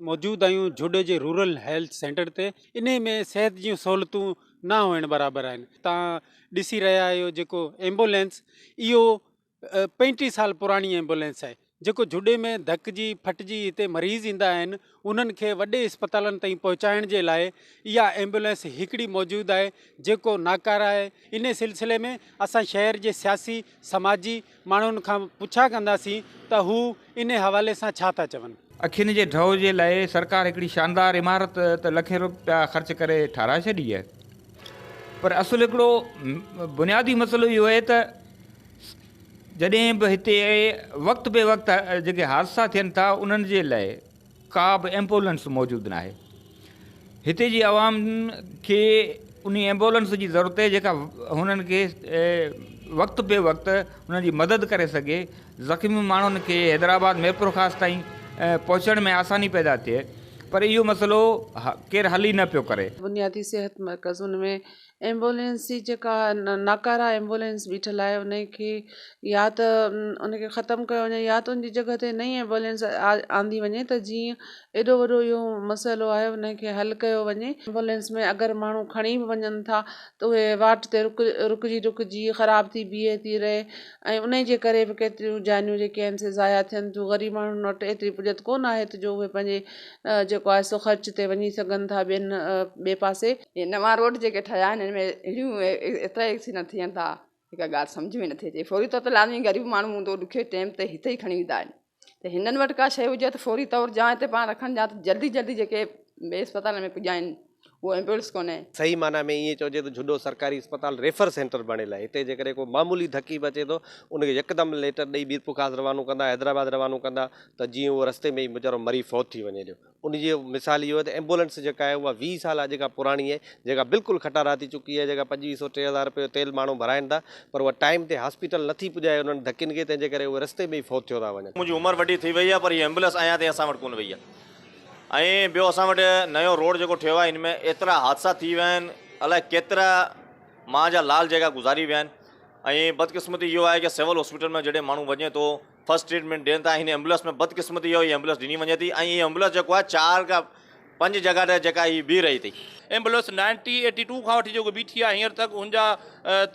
موجود آهيون جھوڏي جي رورل هيلٿ سينٽر تي انهي ۾ صحت جون سهولتون نه هئڻ برابر آهن تان ڏسي رهيا آهيو جيڪو ايمبولينس اهو پنجٽيهه سال پراڻي ايمبولينس آهي جيڪو جھوڏي ۾ ڌڪجي ڦٽجي هتي مريض ايندا آهن انهن کي وڏي اسپتالن تائين پهچائڻ جي لاء اها ايمبولينس هڪڙي موجود آهي جيڪو ناڪاره آهي انهي سلسلي ۾ اسان شهر جي سياسي سماجي ماڻهن کان پڇا ڪنداسين ته هو انهي حوالي سان ڇا ٿا چون. اکين جي ڍؤ جي لاء سرڪار هڪڙي شاندار عمارت ته لکين روپيا خرچ ڪري ٺهرائي ڇڏي آهي پر اصل هڪڙو بنيادي مسئلو اهو آهي ته جڏهن به هتي وقت بي وقت جيڪي حادثا ٿين ٿا انهن جي لاء ڪا به ايمبولنس موجود ناهي هتي جي عوام کي ان ايمبولنس جي ضرورت آهي جيڪا هنن کي وقت بي وقت هنن جي مدد ڪري سگهي زخمي ماڻهن کي حيدرآباد ميرپورخاص تائين پهچڻ ۾ آساني پيدا ٿئي پر اهو مسئلو ڪير حل ئي نه پيو ڪري. بنيادي صحت مرڪزن ۾ ايمبولينس جي جيڪا ناڪاره ايمبولينس بيٺل آهي ان کي يا ته ان کي ختم ڪيو وڃي يا ته ان جي جڳهه تي نئي ايمبولينس آندي وڃي ته جيئن ايڏو وڏو اهو مسئلو آهي ان کي حل ڪيو وڃي ايمبولينس ۾ اگر ماڻهو کڻي به وڃن ٿا ته اهي واٽ تي رڪ رڪجي رڪجي خراب ٿي بيهي ٿي رهي ۽ انهي جي ڪري به ڪيتريون جانيون جيڪي آهن سي ضايع ٿين ٿيون غريب ماڻهن وٽ ايتري پڄت ڪونه آهي ته جو اهي پنهنجي جيڪو آهي سو خرچ تي وڃي سگهن ٿا ٻين ٻئي پاسي هي نوان روڊ جيڪي ٺهيا آهن ان ۾ اهڙيون ايترا ايڪسيڊنٽ ٿين ٿا جيڪا ڳالهه سمجهه ۾ نٿي اچي فوري طور تي لازمي غريب ماڻهو هوندو ڏکي ٽيم تي هتي ئي کڻي ويندا آهن ته هنن وٽ ڪا شيء هجي ته فوري طور جا هتي پاڻ رکن جا ته جلدي جلدي جيڪي ٻئي اسپتالن ۾ پڄائين اهو ايمبولنس ڪونهي. صحيح معنيٰ ۾ ائين چئجي ته جهڏو سرڪاري اسپتال ريفر سينٽر بڻيل آهي هتي جيڪڏهن ڪو معمولي ڌڪي به اچي ٿو ان کي يڪدم ليٽر ڏئي ميرپورخاص روانو ڪندا حيدرآباد روانو ڪندا ته جيئن اهو رستي ۾ ئي ويچارو مري فوت ٿي وڃي ڏيو ان جي مثال اهو آهي ته ايمبولينس جيڪا آهي اها ويهه سال اڄ کان پراڻي آهي جيڪا بلڪل کٽارا ٿي چڪي آهي جيڪا پنجويهه سو ٽي هزار رپيو تيل ماڻهو ڀرائين ٿا پر اها ٽائيم تي هاسپيٽل نٿي پڄائي انهن ڌڪين کي تنهن جي ڪري اهي رستي ۾ ئي فوت ٿيو ٿا وڃن. منهنجي عمر وڏي ٿي وئي آهي پر هي ايمبولينس اڃا تائين اسان وٽ ڪونه وئي آهي ۽ ٻيو اسان وٽ نيو روڊ جيڪو ٺهيو آهي ان ۾ ايترا حادثا ٿي ويا آهن الائي ڪيترا ماء جا لال جيڪا گذاري ويا آهن ۽ بدقسمتي اهو آهي ڪي سول هاسپيٽل ۾ جڏهن ماڻهو وڃي ٿو فرسٽ ٽريٽمينٽ ڏين ٿا هن ايمبولنس ۾ بدقسمتي جو هي ايمبولنس ڏني وڃي ٿي ۽ هي ايمبولنس جيڪو آهي چار کان پنج جڳهه تي جيڪا هي بيهي رهي ٿي. ايمبولنس نائنٽي ايٽي ٽو کان وٺي جيڪو بيٺي آهي هينئر تڪ هن جا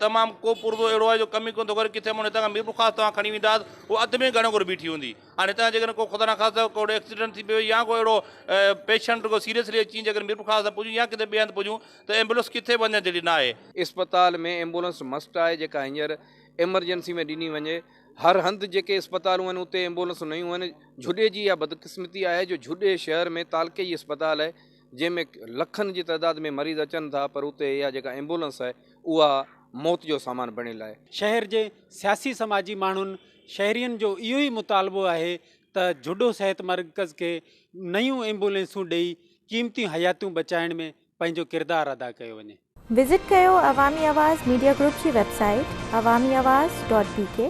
تمام ڪو پرزو اهڙو آهي جو ڪم ئي ڪونه ٿو ڪري ڪٿي اماڻيو هتان کان ميرپورخاص توهان کڻي ويندا هو اڌ ۾ گهڻو ڪري بيٺي هوندي هاڻي هتان جي ڪڏهن ڪو خدا نخواسته ڪو ايڪسيڊنٽ ٿي پوي يا ڪو اهڙو پيشنٽ ڪو سيريسلي اچي جيڪڏهن ميرپورخاص نه پڄون يا ڪٿي ٻئي هنڌ پڄون ته ايمبولنس ڪٿي وڃڻ جهڙي ناهي. اسپتال ۾ ايمبولنس مسٽ آهي جيڪا هينئر ايمرجنسي ۾ ڏني وڃي هر هنڌ جيڪي اسپتالون آهن اتي ايمبولنسون نيون آهن جھوڏي جي اها بدقسمتي آهي جو جھوڏي شهر ۾ تعلقي جي اسپتال آهي جنهن ۾ لکن جي تعداد ۾ مريض اچن ٿا پر اتي اها جيڪا ايمبولنس آهي اها موت جو سامان بڻيل آهي. شهر جي سياسي سماجي ماڻهن شهرين جو اهو ئي مطالبو آهي ته جھوڏو صحت مرڪز کي نيون ايمبولنسون ڏئي قيمتيون حياتيون بچائڻ ۾ پنهنجو ڪردار ادا ڪيو وڃي. وزٽ ڪيو عوامي آواز ميڊيا گروپ جي website Awami Awaz dot بي ڪي.